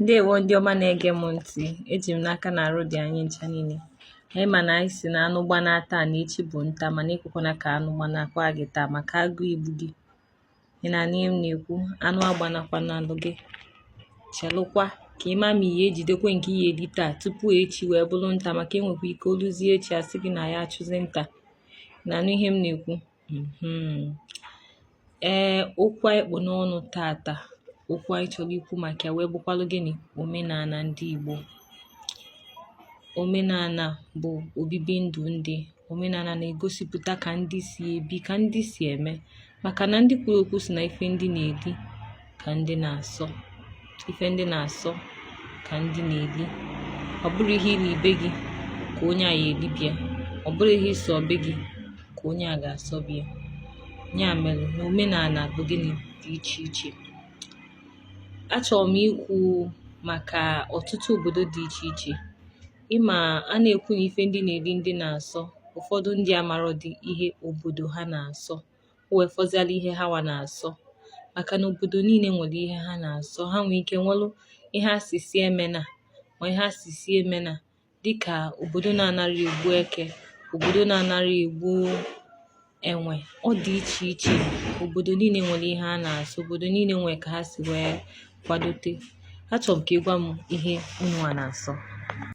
Ndewo ndị ọma na-ege m ntị, eji m n'aka na arụ dị anyị ncha niile. Anyị ma na anyị sị na anụ gbana taa na echi bụ nta mana ekwekwana ka anụ gbanakwa gị taa maka agụụ igbu gị. Ị na-anụ ihe m na-ekwu, anụ agbanakwanalụ gị. Chelụkwa ka ị ma ma ị ya-ejidekwe nke ị ya-eri taa tupu echi wee bụrụ nta maka e nwekwa ike o luzie echi a sị gị na ya achụzi nta. Ị na-anụ ihe m na-ekwu? mm-hmm. ee okwu anyị kpụ n'ọnụ taata okwu anyị chọrọ ikwu maka ya wee bụkwalụ gịnị omenala ndị Igbo omenala bụ obibi ndụ ndị omenala na-egosipụta ka ndị si ebi ka ndị si eme maka na ndị kwuru okwu sị na ife ndị na-eli ka ndị na-asọ ife ndị na-asọ ka ndị na-eli ọ bụrọ ihe i li be gị ka onye a ya-eli be ya ọ bụrọ ihe ị sọ be gị ka onye a ga-asọ be ya ya mere na omenala bụ gịnị dị iche iche achọrọ m ikwu maka ọtụtụ obodo dị iche iche ị ma a na-ekwu na ife ndị na-eli ndị na-asọ ụfọdụ ndị amarọdị ihe obodo ha na-asọ o wee fọziala ihe ha wa na-asọ maka na obodo niile nwere ihe ha na-asọ ha nwee ike nwelụ ihe a sị sị emena ma ihe a sị sị emena dịka obodo na-anarọ egbu eke obodo na-anarọ egbu enwe ọ dị iche iche obodo niile nwere ihe a na-asọ obodo niile nwere ka ha si wee kwadote achọrọ m ka ị gwa m ihe unu wa na-asọ